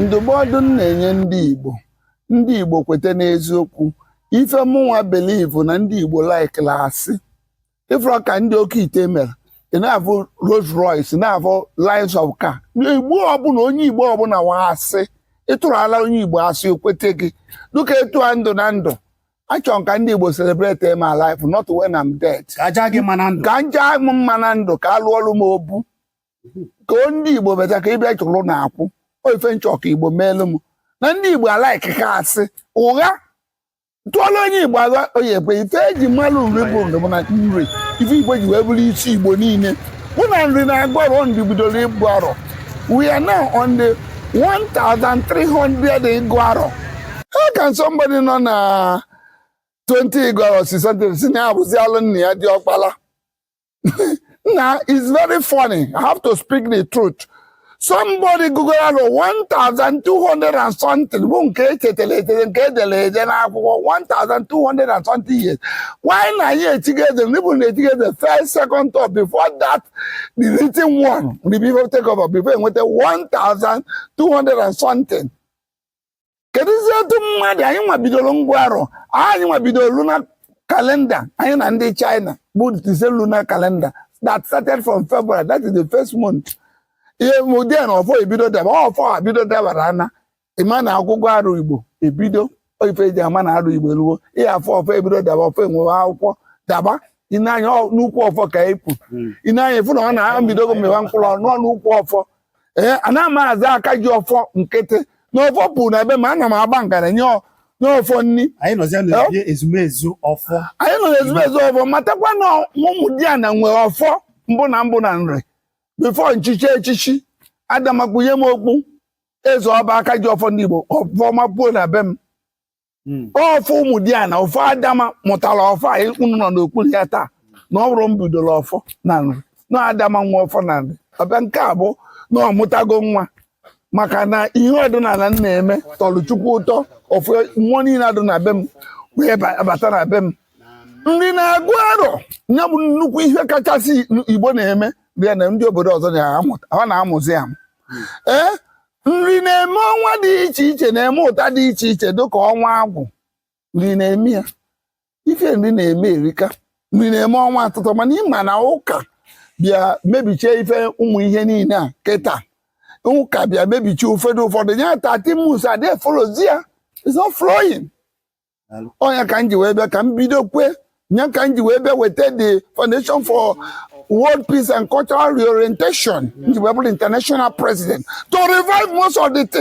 ndụmọdụ m na-enye ndị Igbo ndị Igbo kweta n'eziokwu ife mụnwa believe na ndị Igbo likela asị ị fụrọ ka ndị oke ite mere ị na-afụ Rolls Royce na-afụ lines of car igbo ọbụla onye igbo ọbụla wa asị ị tụrụala onye igbo asị o kwete gị dịka etu a m dị na ndụ achọrọ m ka ndị igbo celebrate my life not when I'm dead ka a jaa m mma na ndụ ka a lụọrọ m obu ka o ndị igbo better ka ịbịa chụrụ na akwụ ọ ife m chọ ka igbo meelu m na ndị igbo alikeka asị ụgha tụọla onye igbo ụgha ọ ya-ekwe ife eji malụ nri bụ ndụ bụ na nri ife igbo ji wee bụrụ isi igbo niile bụ na nri na-agụ arọ nri bidoro ịgụ arọ we are now on the 1300 ịgụ arọ how can somebody nọ na 20 ịgụ arọ si something si na ya bụzi alụ nna ya diọkpala na it's very funny i have to speak the truth somebody gụgo arọ 1200 and something bụ nke echetara echeta nke edere ede n'akwụkwọ 1200 and something years why na anyị echigo eze ndị bụ na echigo eze first second third before that the written one the before take over before enweta 1200 and something kedụzi etu mmadụ anyịnwa bidoro ịgụ arọ anyịnwa bidoro lunar calendar anyị na ndị China bụ the same lunar calendar that started from February that is the first month ihe mụdị na ọfọ ebido daba ọfọ ebido dabara ana ịma na akwụkwọ arọ Igbo ebido ife eji ama na arọ Igbo eluwo ihe afọ ọfọ ebido daba ọfọ enwewe akwụkwọ daba i nee anya n'ukwu ọfọ ka epụ hmm. i nee anya ị fụ na ọ na-ebidogo mịwa mkpụrụ ọ nọ n'ukwu ọfọ ee eh, ana m aza aka ji ọfọ nkịtị na ọfọ pu na be m ana m agba ngara nye ọfọ nri anyị nọ n'ezumezu ọfọ matakwa na ụmụdiana nwe ọfọ mbụ na mbụ na nri before m chie echichi adama kpunye m okpu eze ọ baa aka ji ọfọ ndị Igbo ọfọ mapuo na be m hmm. ọfọ ụmụdiana ọfọ adama mụtara ọfọ a unu nọ n'okpuru ya taa na ọ bụrọ m bidoro ọfọ na nri na adama nwe ọfọ na nri ọbịa nke a bụ na ọ mụtago nwa maka na ihe ọdịnala m na-eme tọrọ chukwu ụtọ ọfụ mmụọ niile adụ na be m wee bata na be m nri na-agụ arọ ya bụ nnukwu ihe kachasị igbo na-eme bịa na ndị obodo ọzọ na-amụzi ya ee nri na-eme ọnwa dị iche iche na-eme ụta dị iche iche dịka ọnwa agwụ nri na-eme ya ife nri na-eme erika nri na-eme ọnwa asatọ mana ị ma na ụka bịa mebichie ife ụmụ ihe niile a kịta ụka bịa mebichie ụfọdụ ụfọdụ ya tati mus adịfọrọzi ya it's not flowing ọ nya ka m ji wee bịa ka m bido kwe nya ka m ji wee bịa weta the foundation for world peace and cultural reorientation m ji wee bụrụ international president to revive most of the things